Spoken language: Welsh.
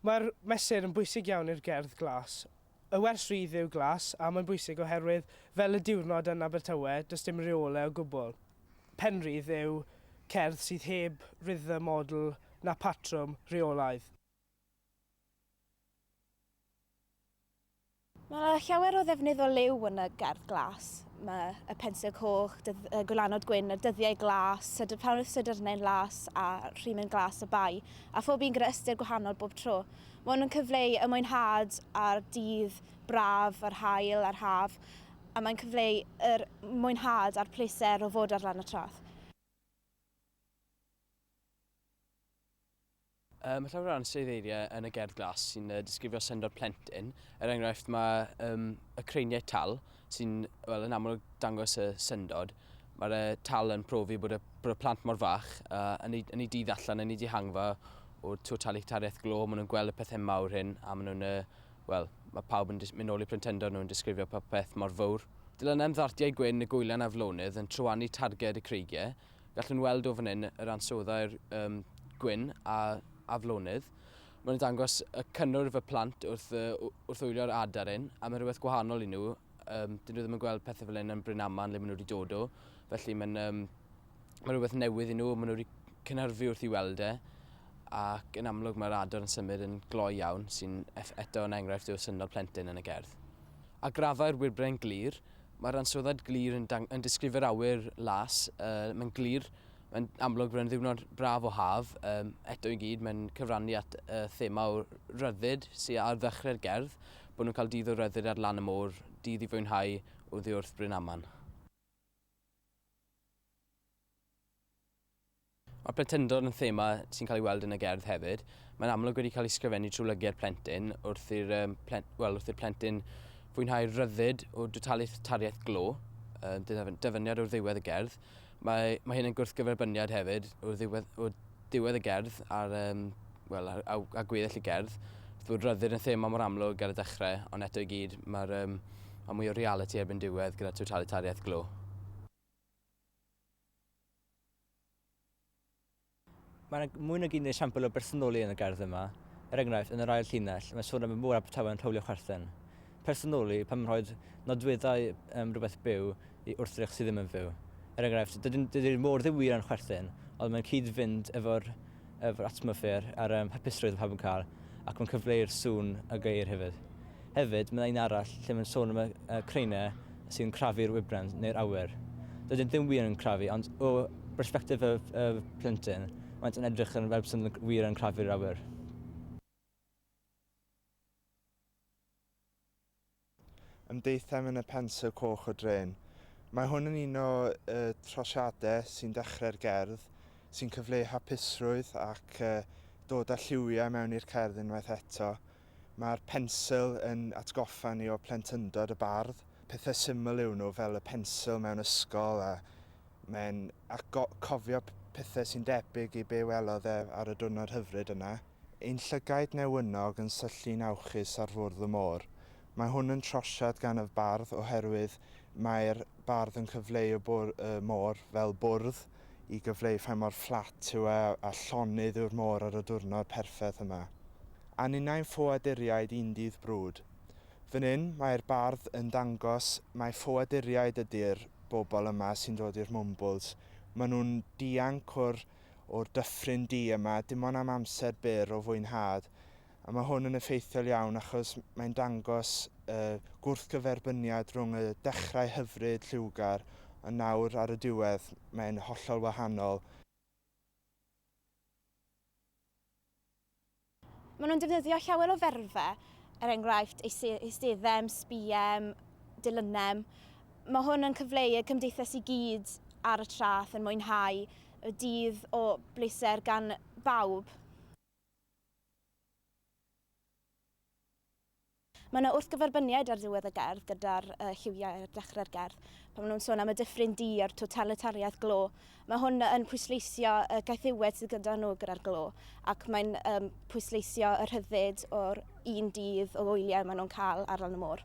Mae'r mesur yn bwysig iawn i'r gerdd glas. Y wers rydd yw glas, a mae'n bwysig oherwydd, fel y diwrnod yn Abertawe, does dim reole o gwbl. Penrhydd yw cerdd sydd heb rythm, odl, na phatrwm, rheolaidd. Mae llawer o ddefnydd o liw yn y gerdd glas. Mae y pensil coch, dydd, y gwylanod gwyn, y dyddiau glas, sydr ffawrth, sydrnau'n las a rhimyn glas y bai, a phob un gyda ystyr gwahanol bob tro. Mae hwn yn cyfleu y mwynhad a'r dydd braf, yr haul a'r haf, a mae'n cyfleu yr mwynhad a'r pleser o fod ar lan y traeth. Mae llawer o ansoddeiriau yn y gerdd glas sy'n disgrifio syndod plentyn. Er enghraifft, mae um, y creiniau tal sy'n well, yn aml dangos y syndod. Mae'r uh, tal yn profi bod y, bod y plant mor fach uh, yn, ei, yn ei dydd allan, yn ei dihangfa o'r totalitariaeth glo. Maen nhw'n gweld y pethau mawr hyn a maen nhw'n... Uh, Wel, mae pawb yn mynd ôl i plentyndod nhw'n disgrifio popeth mor fawr. Dylanau am ddartiau gwyn y gwylan aflonydd yn trywanu targed y creigiau, Gallwn weld o fan hyn yr ansoddair um, gwyn a aflonydd. Mae'n dangos y cynnwrf fy plant wrth, uh, wrth wylio'r adar hyn, a mae'n rhywbeth gwahanol i nhw. Um, dyn nhw ddim yn gweld pethau fel hyn yn Bryn Aman le maen nhw wedi dod o. Felly mae'n um, mae rhywbeth newydd i nhw, maen nhw wedi cynhyrfu wrth i weld e. Ac yn amlwg mae'r adar yn symud yn gloi iawn, sy'n eto yn enghraifft o syndod plentyn yn y gerdd. A grafau'r wirbren glir, Mae'r ansoddaid glir yn, yn disgrifio'r awyr las, uh, mae'n glir, mae'n amlwg bod e'n ddiwrnod braf o haf, um, eto i gyd mae'n cyfrannu at uh, thema o ryddid sy'n ar ddechrau'r gerdd, bod nhw'n cael dydd o ryddid ar lan y môr, dydd i fwynhau o ddiwrth Bryn Aman. Mae plentyndod yn thema sy'n cael ei weld yn y gerdd hefyd. Mae'n amlwg wedi cael ei sgrifennu trwy lygaid plentyn wrth i'r um, plen, well, wrth i'r plentyn fwynhau rhyddid o dwtaliaeth tariaeth glo, yn dyfyniad o'r ddiwedd y gerdd. Mae, mae hyn yn gwrthgyferbyniad hefyd o'r ddiwedd, o'r ddiwedd y gerdd ar, um, well, ar, a, a gweddill y gerdd. Wrth bod rhyddid yn thema mor amlwg ar y dechrau, ond eto i gyd mae'r um, mae mwy o reality erbyn diwedd gyda totalitariaeth glo. Mae yna mwy nag un esiampl o bersonoli yn y gerdd yma. Er enghraifft, yn yr ail llinell, mae sôn am y mŵr Abertawe yn rhowlio chwerthin. Personoli, pan mae'n rhoi nodweddau um, rhywbeth byw i wrthrych sydd ddim yn fyw. Er enghraifft, dydy'r môr ddim wir yn chwerthin, ond mae'n cyd-fynd efo'r yr atmosffer a'r hapusrwydd pawb yn cael ac mae'n cyfleu'r sŵn a geir hefyd. Hefyd, mae yna un arall lle mae'n sôn am y craenau sy'n crafu'r wybren neu'r awyr. Dydyn ddim wir yn crafu, ond o bersbectif y plentyn, maent yn edrych yn fel byswn nhw'n wir yn crafu'r awyr. Ymdeithiem yn y Pensil Coch o Drên. Mae hwn yn un o y trosiadau sy'n dechrau'r gerdd, sy'n cyfleu hapusrwydd ac dod â lliwiau mewn i'r cerdd unwaith eto. Mae'r pensil yn atgoffa ni o plentyndod y bardd. Pethau syml yw nhw, fel y pensil mewn ysgol, a mae'n cofio pethau sy'n debyg i be welodd e ar y diwrnod hyfryd yna. Ein llygaid newynog yn syllu'n awchus ar fwrdd y môr. Mae hwn yn trosiad gan y bardd oherwydd mae'r bardd yn cyfleu y môr fel bwrdd i gyfleu faint mor fflat yw e a llonydd yw'r môr ar y diwrnod perffeth yma. A ninnau'n ffoaduriaid un dydd brwd. Fan hyn, mae'r bardd yn dangos mai ffoaduriaid ydi'r bobl yma sy'n dod i'r Mwmbwls. Maen nhw'n dianc o'r o'r dyffryn du yma, dim ond am amser byr o fwynhad, a mae hwn yn effeithiol iawn achos mae'n dangos y gwrthgyferbyniad rhwng y dechrau hyfryd, lliwgar, ond nawr ar y diwedd mae'n hollol wahanol. Maen nhw'n defnyddio llawer o ferfau, er enghraifft eisteddem, sbïem, dilynem. Mae hwn yn cyfleu y cymdeithas i gyd ar y traeth yn mwynhau y dydd o bleser gan bawb. Mae yna wrthgyferbyniad ar ddiwedd y gerdd gyda'r uh, lliwiau ar dechrau'r gerdd. Pan maen nhw'n sôn am y dyffryn di a'r totalitariaeth glo, mae hwn yn pwysleisio y gaethiwed sydd gyda nhw gyda'r glo, ac mae'n um, pwysleisio y rhyddid o'r un dydd o wyliau maen nhw'n cael ar lan y môr.